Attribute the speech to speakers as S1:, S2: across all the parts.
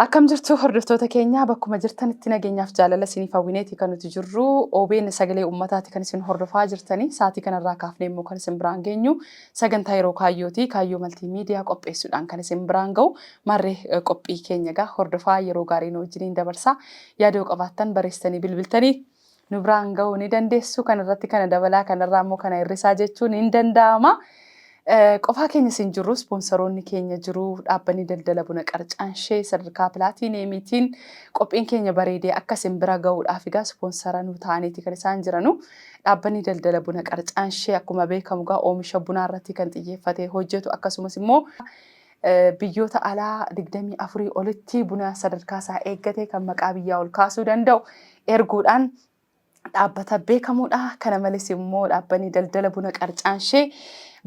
S1: Akkam jirtu hordoftoota keenya bakkuma jirtanitti nageenyaaf jaalala isiniif hawwineeti kan nuti jirru OBN sagalee uummataati kan isin hordofaa jirtanii sa'aatii kanarraa kaafnee immoo kan isin biraan geenyu sagantaa yeroo kaayyooti kaayyoo maltii miidiyaa qopheessuudhaan kan isin biraan ga'u marree eh, qophii keenya egaa hordofaa yeroo gaarii nu wajjiniin dabarsaa yaadoo qabaattan barreessitanii bilbiltanii nu biraan gahuu ni dandeessu. Kana irratti kana dabalaa, kana irraa immoo kana hir'isaa jechuun hin danda'ama. Eh, Qofaa keenya isin jirru ispoonsaroonni keenya jiru dhaabbanni daldala buna qarcaan ishee sadarkaa pilaatiineemiitiin qophiin keenya bareedee akka isin bira ga'uudhaaf egaa ispoonsara nu ta'aniiti kan isaan jiranu dhaabbanni daldala buna qarcaan ishee akkuma beekamu egaa oomisha bunaa irratti kan xiyyeeffatee hojjetu akkasumas immoo Biyyoota alaa 24 olitti buna sadarkaa isaa eeggate kan maqaa biyyaa ol kaasuu danda'u erguudhaan dhaabbata beekamuudha. Kana malees immoo dhaabbanni daldala buna qarcaan ishee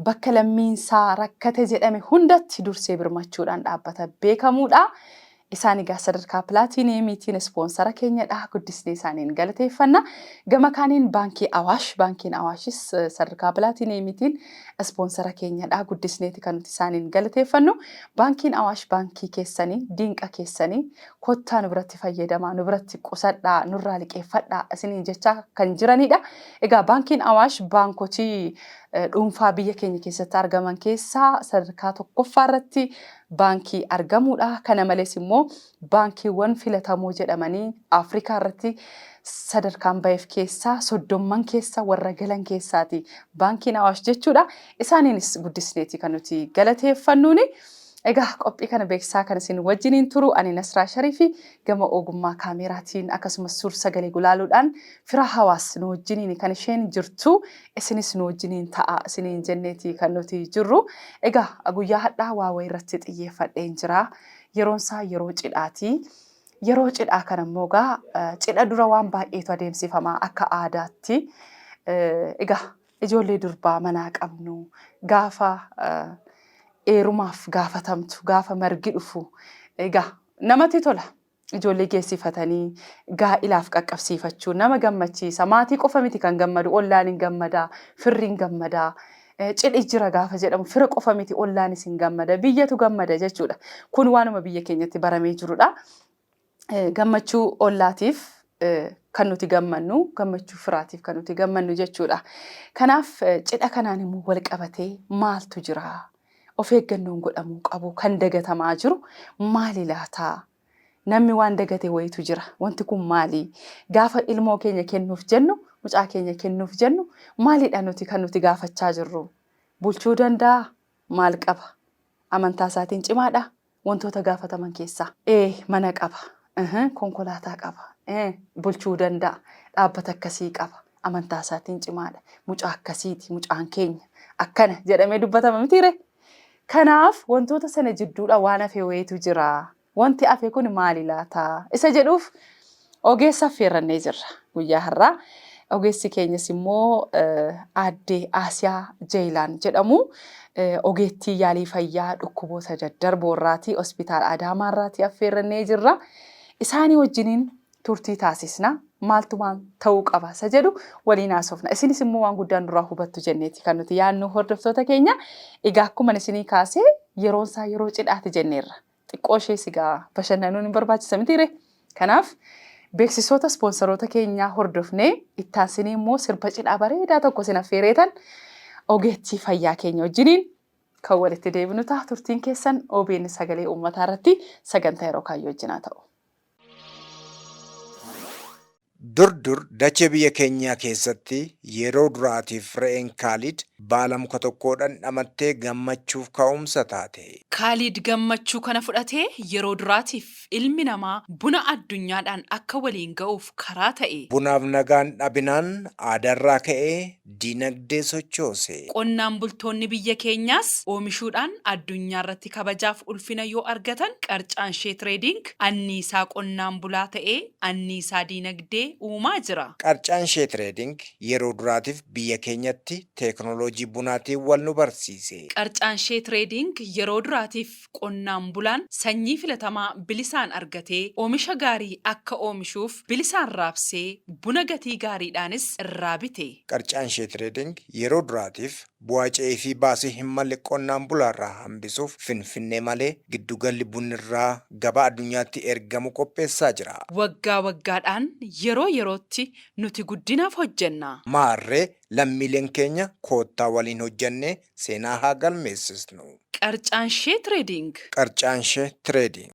S1: bakka lammiinsaa rakkate jedhame hundatti dursee birmachuudhaan dhaabbata beekamuudha. Isaan egaa sadarkaa pilaatiiniyeemiitiin ispoonsara keenyadha. Guddisnee isaaniin galateeffanna. Gama kaaniin Baankii Awaash, Baankiin Awaashis sadarkaa pilaatiiniyeemiitiin ispoonsara keenyadha. Guddisneeti kan nuti isaaniin galateeffannu. Baankiin Awaash baankii keessanii, diinqa keessanii. Kottaa nu biratti fayyadamaa, nu biratti qusadhaa, nurraa liqeeffadhaa isiniin jechaa kan jiranidha. Egaa Baankiin Awaash baankotii dhuunfaa biyya keenya keessatti argaman keessaa sadarkaa tokkoffaa irratti baankii argamuu dha. Kana malees immoo baankiiwwan filatamoo jedhamanii Afrikaa irratti sadarkaan baheef keessaa soddomman keessa warra galan keessaa ti baankiin Awaash jechuu dha. Isaaniinis guddisnee ti kan nuti galateeffannuun. Egaa qophii kana beeksisaa kan isin wajjiniin turu ani Nasraa Shariifi gama ogummaa kaameeraatiin akkasumas suur-sagalee gulaaluudhaan Firaa Hawaas nu wajjiniin kan isheen jirtu. isinis nu wajjiniin ta'aa isiniin jenneetii kan nuti jirru. Egaa guyyaa hadhaa waa wayii irratti xiyyeeffadheen jira. Yeroon isaa yeroo cidhaati. Yeroo cidhaa kana immoo egaa cidha dura waan baay'eetu adeemsifama akka aadaatti. Egaa ijoollee durbaa manaa qabnu gaafa eerumaaf gaafatamtu gaafa margi dhufu egaa namatti tola. Ijoollee geessifatanii gaa'ilaaf qaqqabsiifachuun nama gammachiisa. Maatii qofa miti kan gammadu, ollaan hin gammada, firri hin gammada. Cidhi jira gaafa jedhamu fira qofa miti ollaanis hin gammada, biyyatu gammada jechuudha. Kun waanuma biyya keenyatti baramee jirudha. Gammachuu ollaatiif kan nuti gammannu, gammachuu firaatiif kan nuti gammannu jechuudha. Kanaaf cidha kanaan immoo wal qabatee maaltu jira? of eeggannoon godhamuu qabu kan dagatamaa jiru maali laata? Namni waan dagate wayitu jira. Wanti kun maali? Gaafa ilmoo keenya kennuuf jennu, mucaa keenya kennuuf jennu maalidha nuti kan nuti gaafachaa jirru? Bulchuu danda'aa? Maal qaba? Amantaa isaatiin cimaadhaa? Wantoota gaafataman keessaa. A. Mana qaba. H. Konkolaataa qaba. E. Bulchuu danda'a. Dhaabbata akkasii qaba. Amantaa isaatiin cimaadha. Mucaa akkasiiti mucaan keenya. Akkana jedhamee dubbatama mitiiree? Kanaaf wantoota sana jidduudha waan hafe wayiitu jira. Wanti hafe kun maali laata? Isa jedhuuf Ogeessa affeerrannee jirra guyyaa har'aa. Ogeessi keenyas immoo aadde Aasiyaa Jeeyilaan jedhamu. Ogeettii yaalii fayyaa dhukkuboota daddarboo irraati hospitaala Adaamaa irraati affeerrannee jirra. Isaanii wajjiniin turtii taasisna. Maaltu maal ta'uu qaba isa jedhu waliin haasofna. Isinis immoo waan guddaan duraa hubattu jenneeti kan nuti yaadnu hordoftoota keenya. Egaa akkuma isinii kaasee yeroon isaa yeroo cidhaati jenneerra. xiqqoo ishee sigaa bashannanuun hin barbaachisa miti ree. Kanaaf beeksisoota ispoonsaroota keenyaa hordofnee ittaansinee immoo sirba cidhaa bareedaa tokko sin affeereetan ogeettii fayyaa keenya wajjiniin kan walitti deebinu ta'a turtiin keessan OBN sagalee uummataa irratti sagantaa yeroo kaayyoo wajjinaa ta'u.
S2: Dur dur dachee biyya keenyaa keessatti yeroo duraatiif re'een Kaalid baala muka tokkoo dhandhamattee gammachuuf ka'umsa taate. Kaalid gammachuu
S3: kana fudhatee yeroo duraatiif ilmi namaa buna addunyaadhaan akka waliin ga'uuf karaa ta'e. Bunaaf nagaan
S2: dhabinaan aadaarraa ka'ee dinagdee sochoose. Qonnaan bultoonni
S3: biyya keenyaas oomishuudhaan addunyaarratti kabajaaf ulfina yoo argatan qarcaan Shee Tireediing anniisaa qonnaan bulaa ta'ee anniisaa dinagdee uumaa jira. Qarcaan Shee Tireediing
S2: yeroo duraatiif biyya keenyatti teeknooloojii bunaatiin wal nu barsiise. Qarcaan Shee
S3: Tireediing yeroo duraatiif qonnaan bulaan sanyii filatamaa bilisaan argatee oomisha gaarii akka oomishuuf bilisaan raabsee buna gatii
S2: gaariidhaanis irraa
S3: bite. Qarcaan Shee
S2: Tireeding
S3: yeroo
S2: duraatiif bu'aa ce'ee fi baasii hin malle qonnaan bulaarraa hambisuuf Finfinnee malee giddu galli bunnirraa gabaa addunyaatti ergamu qopheessaa jira. Waggaa waggaadhaan
S3: yeroo yerootti nuti guddinaaf hojjenna. Maarree
S2: lammiileen keenya koottaa waliin hojjennee seenaa haa galmeessisnu. Qarcaanshee
S3: Trading. Qarcaanshee
S2: Trading.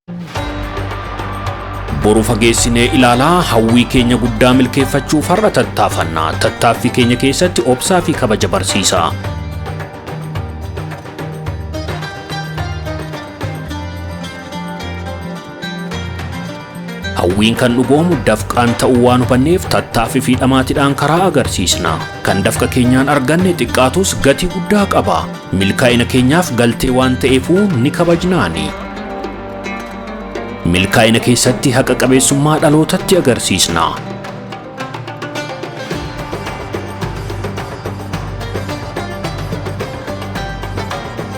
S4: Boru fageessinee ilaalaa hawwii keenya guddaa milkeeffachuuf har'a tattaafanna. Tattaaffii keenya keessatti obsaa fi kabaja barsiisaa. Hawwiin kan dhugoomu dafqaan ta'uu waan hubanneef tattaaffii fi dhamaatiidhaan karaa agarsiisna. Kan dafqa keenyaan arganne xiqqaatus gatii guddaa qaba. Milkaa'ina keenyaaf galtee waan ta'eefuu ni kabajnaani. Milkaa'ina keessatti haqa qabeessummaa dhalootatti agarsiisna.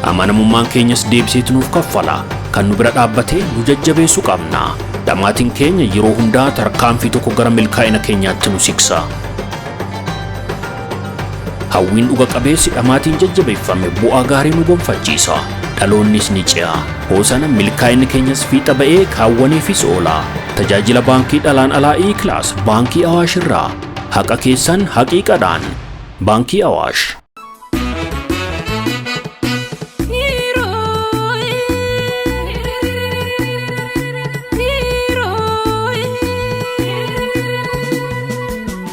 S4: Amanamummaan keenyas deebiseetu nuuf kaffala. Kan nu bira dhaabbatee nu jajjabeessu qabna. Dhamaatiin keenya yeroo hundaa tarkaanfii tokko gara milkaa'ina keenyaatti nu siksa. Hawwiin dhuga qabeessi dhamaatiin jajjabeeffame bu'aa gaarii nu gonfachiisa. Dhaloonnis ni ce'a. Hoosana milkaa'inni keenyas fiixa ba'ee kaawwaneefis oola. Tajaajila baankii dhalaan alaa E-Class baankii Awaash irraa. Haqa keessan haqiiqadhaan. Baankii Awaash.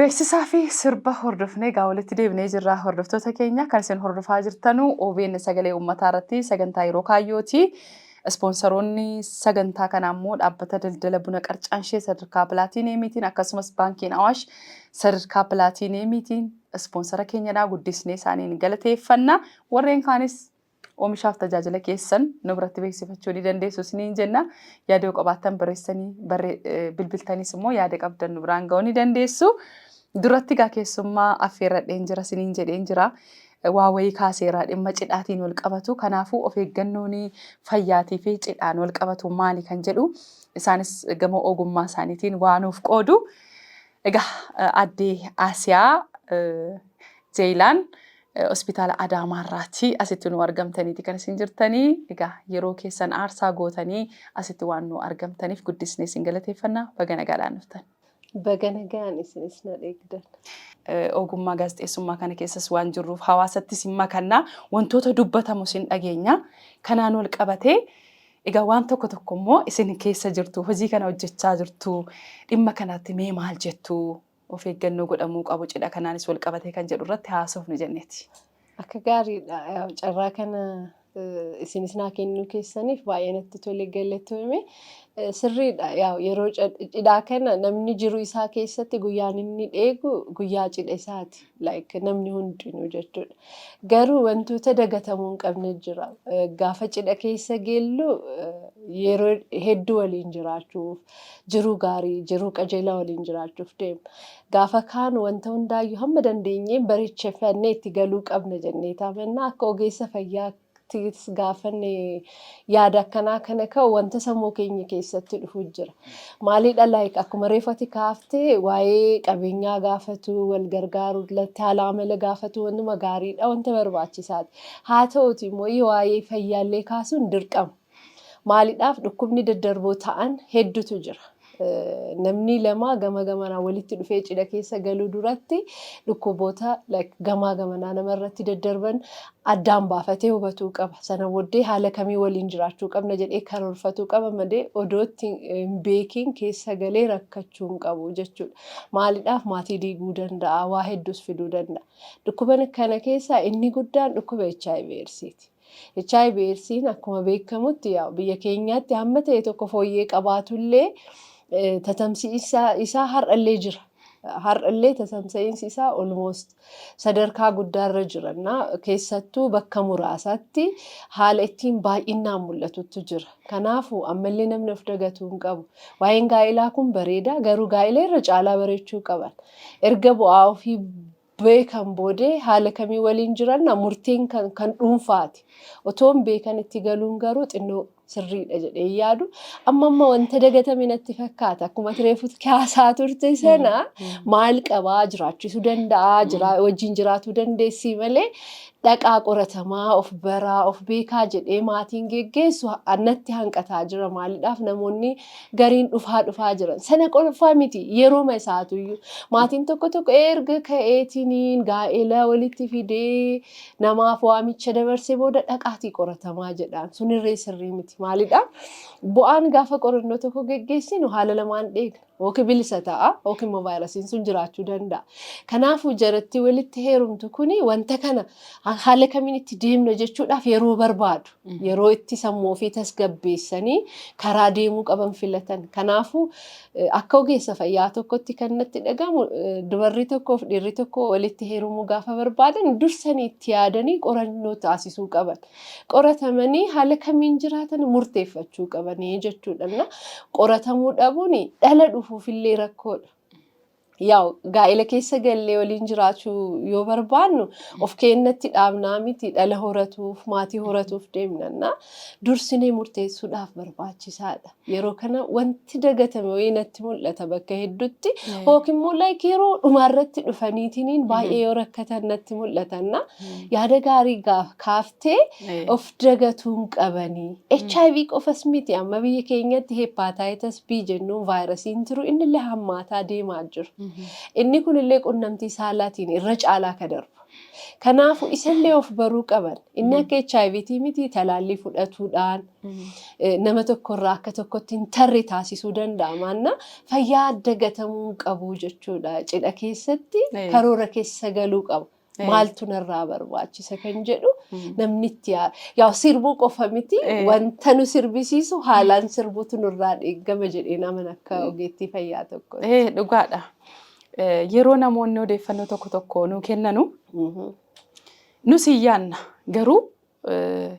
S1: Beeksisaa fi sirba hordofnee egaa walitti deebinee jirra hordoftoota keenya kan isin hordofaa jirtanu OBN sagalee uummataa irratti sagantaa yeroo kaayyooti. Ispoonsaroonni sagantaa kana ammoo dhaabbata daldala buna qarcaanshee sadarkaa pilaatiineemiitiin akkasumas baankiin Awaash sadarkaa pilaatiineemiitiin ispoonsara keenyadhaa guddisnee isaaniin galateeffanna. Warreen kaanis Oomishaaf tajaajila keessan nu biratti beeksifachuu ni dandeessu isiniin jenna. Yaada yoo qabaattan barreessanii bilbiltanis immoo yaada qabdan nu biraan ga'uu ni dandeessu. Duratti gaa keessummaa affeerradheen jira isiniin jedheen jira. Waa wayii kaaseera dhimma cidhaatiin wal qabatu. Kanaafuu of eeggannoon fayyaatii fi cidhaan wal qabatu maali kan jedhu isaanis gama ogummaa isaaniitiin waa nuuf qoodu. Egaa Aadde Aasiyaa Jeeylaan Hospitaala Adaamaa irraati asitti nuu argamtaniiti kan isin jirtanii. Egaa yeroo keessan aarsaa gootanii asitti waan nuu argamtaniif guddisnee isin galateeffanna. Baga nagaadhaan dhuftan. Baga nagaan
S5: isinis na dheegdan. Ogummaa
S1: gaazexeessummaa kana keessas waan jirruuf hawaasattis hin makanna. Wantoota dubbatamus hin dhageenya. Kanaan wal qabatee Egaa waan tokko tokko immoo isin keessa jirtu, hojii kana hojjechaa jirtu, dhimma kanatti mee maal jettu? Of eeggannoo godhamuu qabu cidha kanaanis wal qabatee kan jedhu irratti haasofnu jenneeti. Akka gaariidha.
S5: Yaa Carraa kana eh, isinis naa kennuu keessaniif baay'ee natti tole galatoome. Eh, Sirriidha. Yaa yeroo cid- cidhaa kana namni jiru isaa keessatti guyyaan inni dheegu guyyaa cidha isaati. like namni hundinuu jechuudha. Garuu wantoota dagatamuu hin qabne jira. Eh, Gaafa cidha keessa geellu eh, yeroo hedduu waliin jiraachuuf, jiruu gaarii, jiruu qajeelaa waliin jiraachuuf deemna. Gaafa kaan wanta hundaayyuu hamma dandeenyeen bareechifannee itti galuu qabna jennee taamannaa akka ogeessa fayyaa Tis gaafanne yaada akkanaa kana ka'u wanta sammuu keenya keessatti dhufu jira. Maalidha like akkuma reefati kaafte waa'ee qabeenyaa gaafatu, wal gargaaru, latti haala amala gaafatu wantuma gaariidha, wanta barbaachisaati. Haa ta'uti immoo waa'ee fayyaallee kaasuun dirqama. Maalidhaaf dhukkubni daddarboo ta'an heddutu jira. Namnii lama gama gamanaa walitti dhufee cidha keessa galuu duratti dhukkuboota like gamaa gamanaa nama irratti daddarban addaan baafatee hubatuu qaba. Sana boddee haala kamii waliin jiraachuu qabna jedhee karoorfatuu qaba malee odoo itti hin beekiin keessa galee rakkachuu hin qabu jechuudha. Maalidhaaf maatii diiguu danda'a, waa hedduus fiduu danda'a. Dhukkuban kana keessaa inni guddaan dhukkuba hiv eedsiiti. Hiv Eedsiin akkuma beekamutti yaa'u biyya keenyaatti hamma ta'e tokko fooyyee qabaatullee tatamsi'insa isaa har'allee jira. Har'allee tatamsa'iinsi isaa almost sadarkaa guddaarra jiranna. Keessattuu bakka muraasatti haala ittiin baay'innaan mul'atuttu jira. Kanaafuu ammallee namni of dagatuu hin qabu. Waa'een gaa'ilaa kun bareeda garuu gaa'ila irra caalaa bareechuu qaban. Erga bu'aa ofii beekan boodee haala kamiin waliin jiranna murtiin kan kan dhuunfaati. Otoon beekan itti galuun garuu xinnoo sirriidha jedhee hin yaadu. Amma amma wanta dagatame natti fakkaata. Akkuma ati reefu kaasaa turte sana maal qabaa jiraachisuu danda'aa jiraa wajjin jiraatuu dandeessii malee dhaqaa qoratamaa of baraa of beekaa jedhee maatiin geggeessu ha- natti hanqataa jira maalidhaaf namoonni gariin dhufaa dhufaa jiran. Sana qofaa miti yerooma isaatuyyuu maatiin tokko tokko erga ka'eetiniin gaa'ela walitti fidee namaaf waamicha dabarsee booda dhaqaatii qoratamaa jedhaan. Sunirree sirrii miti. Maalidha? Bu'aan gaafa qorannoo tokko geggeessinu haala lamaan dheegna. Yookiin bilisa ta'a yookiin immoo vaayirasiin sun jiraachuu danda'a. Kanaafuu jaratti walitti heerumtu kuni wanta kana haala kamiin itti deemna jechuudhaaf yeroo barbaadu. Yeroo itti sammuu ofii tasgabbeessanii karaa deemuu qaban filatan. Kanaafuu eh, akka ogeessa fayyaa tokkotti kan natti dhagahamu eh, dubarri tokkoof dhiirri tokko walitti heerumuu gaafa barbaadan dursanii itti yaadanii qorannoo taasisuu qaban. Qoratamanii haala kamiin jiraatan murteeffachuu qabanii jechuudha. Na qoratamuu dhabuun dhala dhufuufillee rakkoodha. Yaa'u gaa'ela keessa gallee waliin jiraachuu yoo barbaannu of keennatti dhaabnaa miti dhala horatuuf maatii horatuuf deemnanna dursinee murteessuudhaaf barbaachisaadha. Yeroo kana wanti dagatame wayii natti mul'ata bakka hedduutti yookiin immoo like yeroo dhumaarratti dhufaniitiin baay'ee yoo rakkatan natti mul'atanna yaada gaarii gaaf kaaf jettee of dagatuu hin qabani. HIV qofas miti amma biyya keenyatti hepatitis B jennuun vaayirasiin tiru innillee hammaataa deemaa jiru. Inni kunillee qunnamtii saalaatiin irra caalaa ka darbu. Kanaafuu isallee of baruu qaban. Inni akka HIV tii miti talaallii fudhatuudhaan nama tokkorraa akka tokkotti hin tarre taasisuu danda'a. Maanna fayyaa dagatamuu hin qabu jechuudha. Cidha keessatti karoora keessa galuu qaba. Eh. maaltu narraa barbaachisa kan jedhu namni itti yaa yaa sirbuu qofa miti Eh. wanta nu sirbisiisu haalaan sirbuutu nurraa eeggama jedhee naman akka ogeettii fayyaa tokko. Eh, dhugaadha.
S1: Eh, Yeroo namoonni odeeffannoo tokko tokko nuu kennanu nus hin yaanna garuu eh,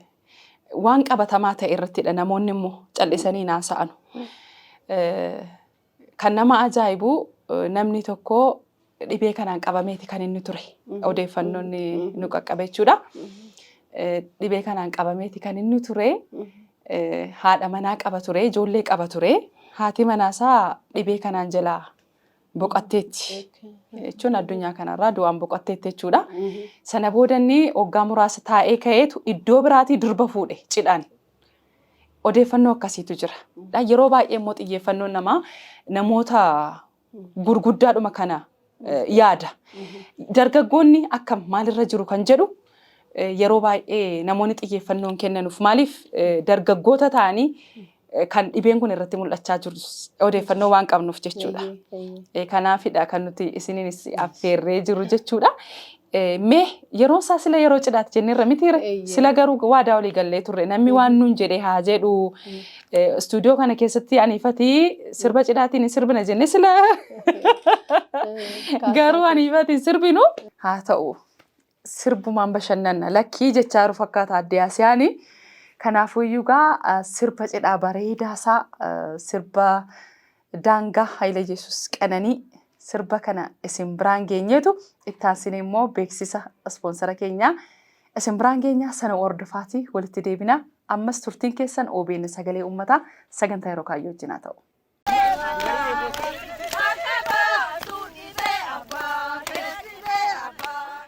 S1: waan qabatamaa ta'e irrattidha namoonni immoo callisanii hin haasa'anu. Eh, Kan nama ajaa'ibu namni tokko dhibee kanaan qabameeti kan inni ture. Odeeffannoon nu qaqqabe jechuudha. Dhibee kanaan qabameeti kan inni ture. Haadha manaa qaba ture, ijoollee qaba ture. Haati manaasaa dhibee kanaan jalaa boqatteetti jechuun addunyaa kanarraa du'aan boqatteetti jechuudha. Sana booda inni waggaa muraasa taa'ee ka'eetu iddoo biraatii durba fuudhe cidhaan. Odeeffannoo akkasiitu jira. Dha. Yeroo baay'ee immoo xiyyeeffannoon namaa namoota gurguddaadhuma kana eh, yaada. Dargaggoonni akkam maalirra jiru kan jedhu eh, yeroo baay'ee namoonni xiyyeeffannoon kennanuuf maaliif eh, dargaggoota ta'anii eh, kan dhibeen kun irratti mul'achaa jirus odeeffannoo waan qabnuuf jechuudha. Eeyyee, eeyyee. Eh, Kanaafidha kan nuti isiniinis affeerree jiru jechuudha. Mee yeroon isaa sila yeroo cidhaati jenneerra mitiire Eeyyee. sila garuu waadaa olii gallee turre namni waan nuun jedhe haa jedhu istuudiyoo kana keessatti aniifatii sirba cidhaatiin hin sirbina jenne sila garuu aniifatiin sirbinu haa ta'u sirbumaan bashannanna lakkii jechaa jiru fakkaata addee asiyaani kanaafuu iyyuu gaa sirba cidhaa bareedaa isaa sirba Daangaa Hayileyesus Qananii sirba kana isin biraan geenyeetu itti aansinee immoo beeksisa ispoonsara keenyaa isin biraan geenyaa sana hordofaati walitti deebina ammas turtiin keessan OBN sagalee uummataa sagantaa yeroo kaayyoo wajjin haa ta'u. Bakka baasuu dhisee abbaa keessi bee abbaa.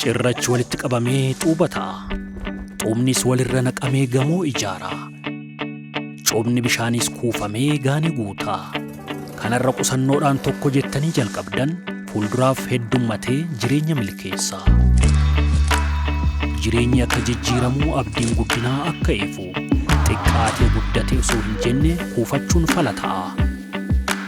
S4: Cirrachi walitti qabamee xuuba ta'a. Xuubnis walirra naqamee gamoo ijaara. Coobni bishaaniis kuufamee gaani guuta. Kanarra qusannoodhaan tokko jettanii jalqabdan fuulduraaf heddummatee jireenya milkeessa. Jireenyi akka jijjiiramu abdiin guddinaa akka ifu. Xiqqaatee guddate osoo hin jenne kuufachuun fala ta'a.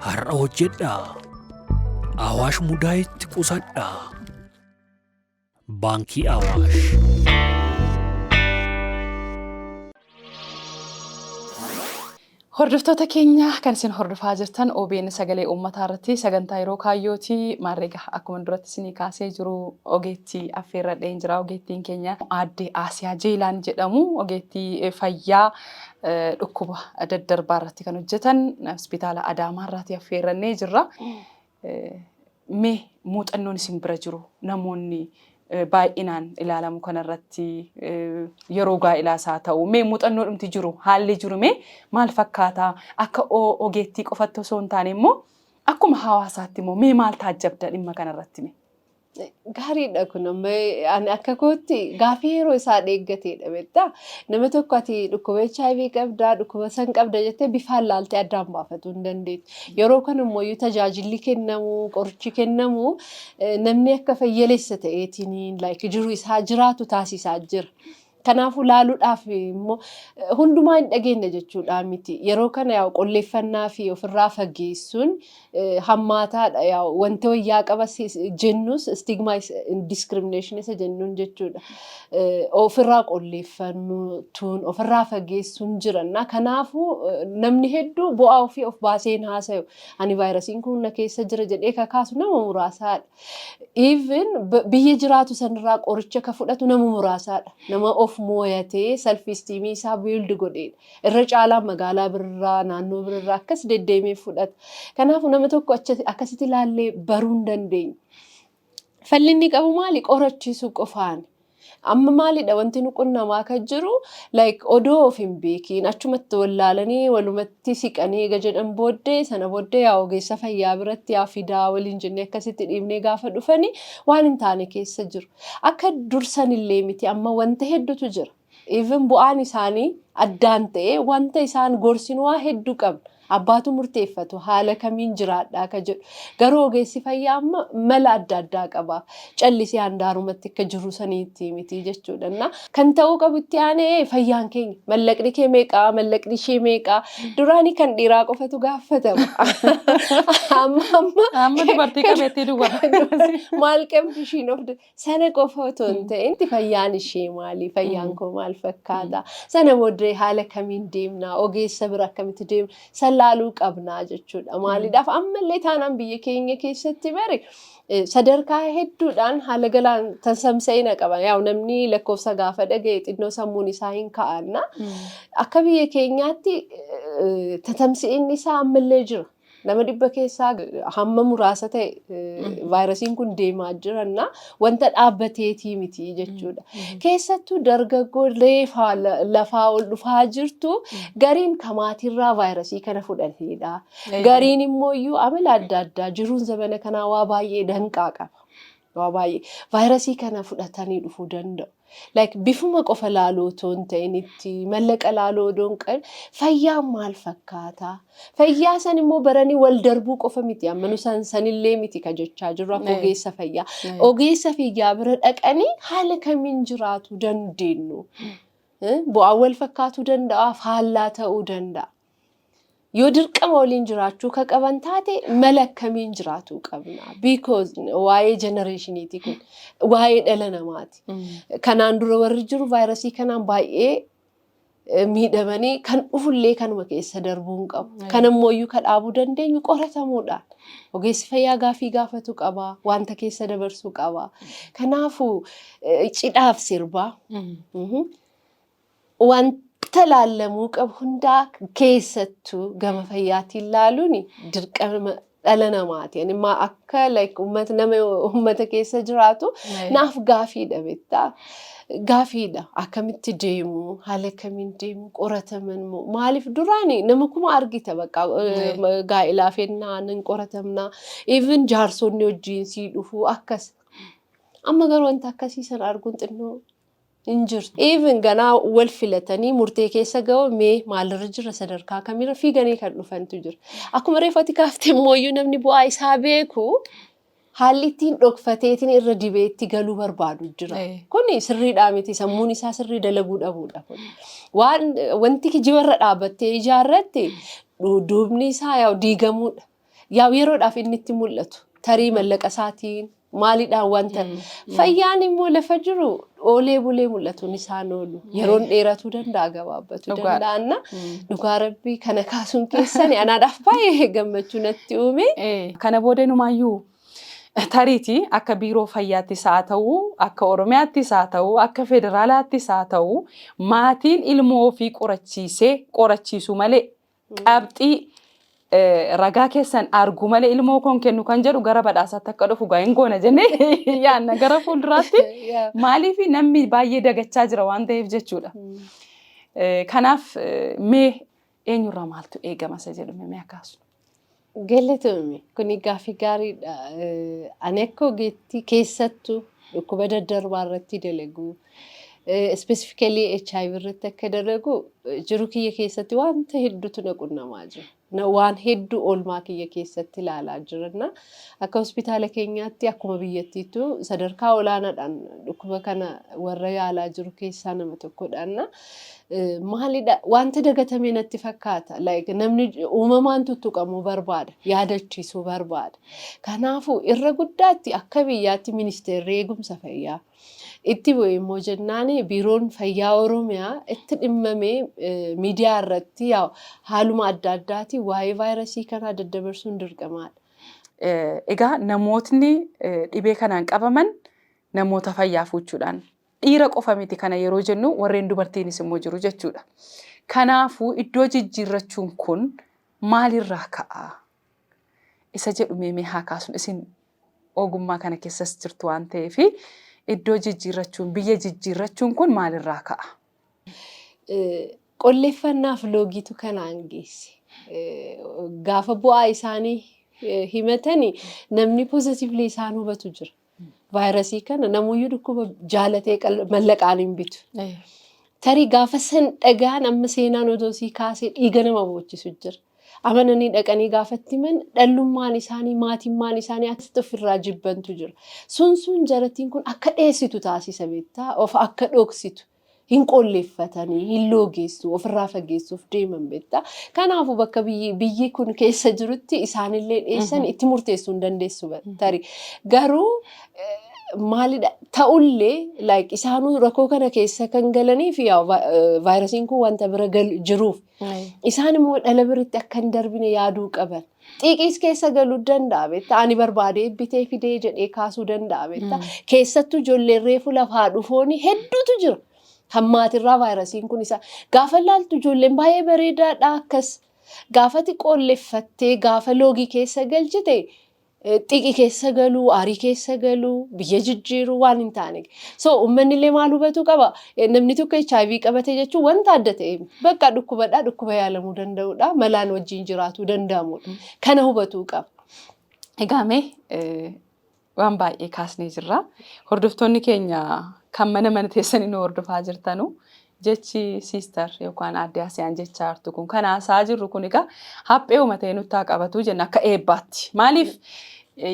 S4: har'a hojjedhaa. Awaash mudaayitti qusadhaa. Baankii Awaash.
S1: Hordoftoota keenya kan isin hordofaa jirtan OBN sagalee uummataa irratti sagantaa yeroo kaayyooti maarreega akkuma duratti isinii kaasee jiru ogeettii affeerradheen jira ogeettiin keenya aadde Aasiyaa Jeelaan jedhamu ogeettii fayyaa dhukkuba daddarbaa irratti kan hojjetan hospitaala Adaamaa irraati affeerrannee jirra. Mee muuxannoon isin bira jiru namoonni baay'inaan ilaalamu kanarratti yeroo gaa'elaas haa ta'u mee muuxannoo dhumti jiru haalli jiru mee maal fakkaataa akka ogeettii qofatti osoo hin taane immoo akkuma hawaasaatti immoo mee maal taajjabda dhimma kanarratti mee. Gaariidha
S5: kun amma ani akka kootti gaaffii yeroo isaa dheeggateedha beektaa nama tokko ati dhukkuba HIV qabdaa dhukkuba san qabda jettee bifaan laaltee addaan baafachuu hin dandeettu. Yeroo kana immoo iyyuu tajaajilli kennamu qorichi kennamu eh, namni akka fayyaleessa ta'eetiin like jiru isaa jiraatu taasisaa jira. Kanaafuu laaluudhaaf immoo hundumaa hin dhageenye jechuudhaa miti. Yeroo kana yaa qolleeffannaa fi ofirraa fageessuun hammaataadha. Yaa wanti wayyaa qaba jennus stigma discrimination isa jennuun jechuudha. Ofirraa qolleeffannuun ofirraa fageessuun jiranna. Kanaafuu namni hedduu bu'aa ofii of baasee hin haasayu. Ani vaayirasiin kun na keessa jira jedhee kakaasu nama muraasaadha. Even b- biyya jiraatu sanirraa qoricha ka fudhatu nama muraasaadha. Nama of mooyatee self esteem isaa build godheedha. Irra caalaan magaalaa birraa, naannoo birraa akkas deddeemee fudhata. Kanaafuu nama tokko acha- akkasitti ilaallee baruu hin dandeenyu. Fallinni qabu maali? Qorachiisuu qofaani. Amma maalidha wanti nu qunnamaa kan jiru like odoo of hin beekiin achumatti wallaalanii walumatti siqanii eega jedhan booddee sana booddee yaa ogeessa fayyaa biratti yaa fidaa waliin jennee akkasitti dhiibnee gaafa dhufanii waan hin taane keessa jiru. Akka dursan illee miti amma wanta hedduutu jira. Even bu'aan isaanii addaan ta'ee wanta isaan gorsinuwaa hedduu qabna. Abbaatu murteeffatu haala kamiin jiraadhaa ka jedhu. Garuu ogeessi fayyaa amma mala adda addaa qaba. Callisee handaarumatti akka jiru sanii itti himiti jechuudha. Innaa kan ta'uu qabu itti aanee fayyaan keenya mallaqni kee meeqaa mallaqni ishee meeqaa duraanii kan dhiiraa qofatu gaafatama. Amma amma
S1: Amma dubartii qabeettii duwwaa. maal qabdi
S5: ishiin of da- Sana qofa otoo hin ta'in fayyaan ishee maali? Fayyaan koo maal fakkaata? Sana booddee haala kamiin deemna? Ogeessa bira akkamitti deemna? San laaluu qabna jechuudha. Maaliidhaaf ammallee taanaan biyya keenya keessatti bari sadarkaa hedduudhaan haala galaan tamsa'ina qaba. Yaa'u namni lakkoofsa gaafa dhaga'e xinnoo sammuun isaa hin ka'anna. Akka biyya keenyaatti tamsa'inni isaa ammallee jira. Nama dhibba keessaa hamma muraasa ta'e vaayirasiin kun deemaa jiranna wanta dhaabbateetii miti jechuudha. Keessattuu dargaggoo reefaa lafaa ol dhufaa jirtu gariin kamaatiirraa vaayirasii kana fudhateedha. Gariin immoo iyyuu amala adda addaa jiruun zamana kanaa waa baay'ee danqaa qaba. Waa baay'ee vaayirasii kana fudhatanii dhufuu danda'u. Like bifuma qofa laaluu otoo hin ta'in itti mallaqa laaluu odoo hin qabin fayyaan maal fakkaata? Fayyaa san immoo baranii wal darbuu qofa miti amma nu san sanillee miti ka jechaa jirru akka Ee. ogeessa fayyaa. Ee. Ogeessa fayyaa bira dhaqanii haala kamiin jiraatu dandeenyu? Eh, Bu'aan wal fakkaatuu danda'a, faallaa ta'uu danda'a. Yoo dirqama waliin jiraachuu ka qaban taate mala akkamiin jiraatuu qabna? Because waa'ee jenereeshiniiti kun. Waa'ee dhala namaati. Kanaan dura warri jiru vaayirasii kanaan baay'ee eh, miidhamanii kan dhufullee kanuma keessa darbuu hin qabu. Ayyo. Kan ammoo iyyuu ka dhaabuu dandeenyu qoratamuudhaan. Ogeessi fayyaa gaafii gaafatu qaba, wanta keessa dabarsuu qaba. Kanaafuu eh, cidhaaf sirbaa Mhm. Wanta laallamuu qabu hundaa keessattuu gama fayyaatiin laaluun dirqama dhala namaati. Ani ma akka like uummata nama uummata keessa jiraatu naaf gaafiidha beektaa. Gaafiidha akkamitti deemu haala akkamiin deemu qorataman moo maaliif duraani nama kuma argita bakka eh, ma- gaa'elaa fennaa nan qoratamna even jaarsonni wajjiin sii dhufu akkas. Amma garuu wanta akkasii sana arguun xinnoo hin jirtu even ganaa wal filatanii murtee keessa ga'oo mee maalirra jirra sadarkaa kamirra fiiganii kan dhufantu jira akkuma reefu ati kaafte immooyyuu namni bu'aa isaa beeku haalli ittiin dhokfateetiin irra dibeetti galuu barbaadu jira Eh. kuni sirriidhaa miti sammuun isaa sirrii dalaguu dhabuudha kun waan wanti kijibarra dhaabattee ijaarratti du- duubni isaa yaa diigamuudha Yaa yeroodhaaf inni itti mul'atu tarii mallaqa isaatiin maalidhaan wanta fayyaan immoo lafa jiru oolee bulee mul'atuun isaan oolu yeroon dheeratuu danda'a gabaabbatu Dhugaadha. danda'anna dhugaa rabbii kana kaasuun keessani anaadhaaf baay'ee gammachuu natti uume. Eh, Kana booda
S1: numaayyuu tariiti akka biiroo fayyaattis haa ta'u, akka Oromiyaattis haa ta'u, akka federaalaattis haa ta'u, maatiin ilmoo ofii qorachiisee qorachiisu malee qabxii ragaa keessan argu malee ilmoo koon kennu kan jedhu gara badhaasaatti akka dhufu gaa hin goona jennee yaanna gara fuulduraatti maaliif namni baay'ee dagachaa jira waan ta'eef jechuudha. Kanaaf mee eenyurraa maaltu eegama isa jedhu mee akkaasu. Galatoomi
S5: kuni gaaffii gaariidha. Ani akka ogeettii keessattu dhukkuba daddarbaa irratti dalagu specifically HIV irratti akka dalagu jiru kiyya keessatti wanta hedduutu na qunnamaa jira. Na- Waan hedduu oolmaa kiyya keessatti ilaalaa jiranna. Akka hospitaala keenyaatti akkuma biyyattiitu sadarkaa olaanaadhaan dhukkuba kana warra yaalaa jiru keessaa nama tokkodhaanna. Eh, Maalidha wanta dagatamee natti fakkaata like namni j- uumamaan tuttuqamuu barbaada yaadachiisuu barbaada kanaafuu irra guddaatti akka biyyaatti ministeerri eegumsa fayyaa itti bu'e immoo jennaan biiroon fayyaa oromiyaa itti dhimmamee eh, miidiyaa irratti yaa- haaluma adda addaatiin waa'ee vaayirasii kanaa daddabarsuun dirqamaadha. Eh,
S1: Egaa namootni eh, dhibee kanaan qabaman namoota fayyaa fuuchuudhaan Dhiira qofa miti kana yeroo jennu warreen dubartiinis immoo jiru jechuudha. Kanaafuu iddoo jijjiirrachuun kun maalirraa ka'a? Isa jedhu mee mee haa kaasnu isin ogummaa kana keessas jirtu waan ta'eef iddoo jijjiirrachuun biyya jijjiirrachuun kun maalirraa ka'a?
S5: Qolleeffannaaf loogiitu kanaan geesse. Gaafa bu'aa isaanii himatani namni positively isaan hubatu jira. Vaayirasii kana namuyyuu dhukkuba jaalatee qal- mallaqaan hin bitu. Eh. Tarii gaafa san dhagaan amma seenaan odoo sii kaasee dhiiga nama boochisu jira. Amananii dhaqanii gaafatti himan dhallummaan isaanii maatimmaan isaanii akkasitti ofirraa jibbantu jira. Sun sun jarattiin kun akka dheessitu taasisa beektaa of akka dhoksitu. hin qolleeffatanii, hin loogeessu, ofirraa fageessuuf deeman beekta. Kanaafuu bakka biyyi, biyyi kun keessa jirutti isaanillee dhiyeessan itti murteessuu hin dandeessu ba- tarii. Garuu eh, maalidha ta'ullee like isaanuu rakkoo kana keessa kan galanii fi yaa va- eh, vaayirasiin kun wanta bira gal- jiruuf isaan immoo dhala biritti akka hin darbine yaaduu qaban. Xiiqiis keessa galuu danda'a beektaa ani barbaadee bitee fidee jedhee kaasuu danda'a beektaa keessattuu ijoolleen reefu lafaa dhufooni hedduutu jira kan maatirraa vaayirasiin kun isaa gaafa laaltu ijoolleen baay'ee bareedaadha akkas gaafati qoolleffattee gaafa loogii keessa galchite eh, xiiqii keessa galuu aarii keessa galuu biyya jijjiiruu waan hin taane so uummanni illee maal hubatuu qaba Namni tokko HIV qabate jechuun wanta adda ta'e bakka dhukkubadhaa dhukkuba yaalamuu danda'udha. Malaan wajjin jiraatuu danda'amudha. Kana hubatuu qaba. Egaa mee
S1: waan baay'ee kaasnee jirra. Hordoftoonni keenya kan mana mana teessanii nu hordofaa jirtanu jechi siistar yookaan aadde Asiyaan jecha hartu kun kan haasaa jirru kun egaa haphee uumatee nutti haa qabatu jenna akka eebbaatti. Maaliif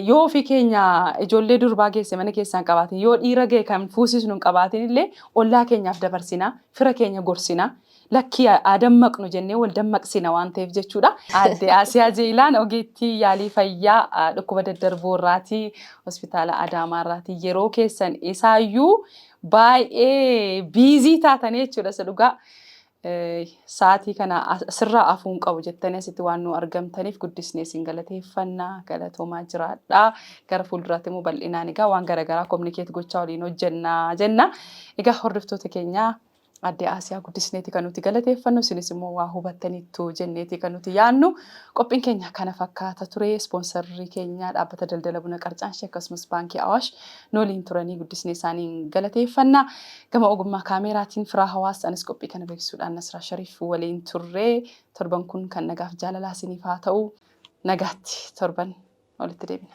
S1: Yoo ofii keenya ijoollee durbaa geesse mana keessaa hin qabaatin, yoo dhiira ga'e kan fuusisnu hin qabaatin illee ollaa keenyaaf dabarsina, fira keenya gorsina. Lakkii haa dammaqnu jennee wal dammaqsina waan ta'eef jechuudha. Aadde Aasiyaa Jeeylaan ogeettii yaalii fayyaa dhukkuba daddarboo irraati. Hospitaala Adaamaa irraati. Yeroo keessan isaayyuu baay'ee biizii taatanii jechuudha isa dhugaa. Sa'aatii kana asirraa afuu hin qabu jettanii asitti waan nu argamtaniif guddisnee isin galateeffanna galatoomaa jiraadha. Gara fuulduraatti immoo bal'inaan egaa waan garaagaraa kominikeet gochaa waliin hojjenna jenna. Egaa hordoftoota keenya addee Aasiyaa guddisneeti kan nuti galateeffannu isinis immoo waa hubattaniittu jenneeti kan nuti yaannu qophiin keenya kana fakkaata ture ispoonsarri keenya dhaabbata daldala buna qarcaanshe akkasumas baankii Awaash Nu waliin turanii guddisnee isaaniin galateeffanna. Gama ogummaa kaameeraatiin Firaa Hawaas, anis qophii kana beeksisuudhaan Nasraa Shariif waliin turre. Torban kun kan nagaaf jaalalaa isiniif haa ta'u. Nagaatti torban walitti deebina.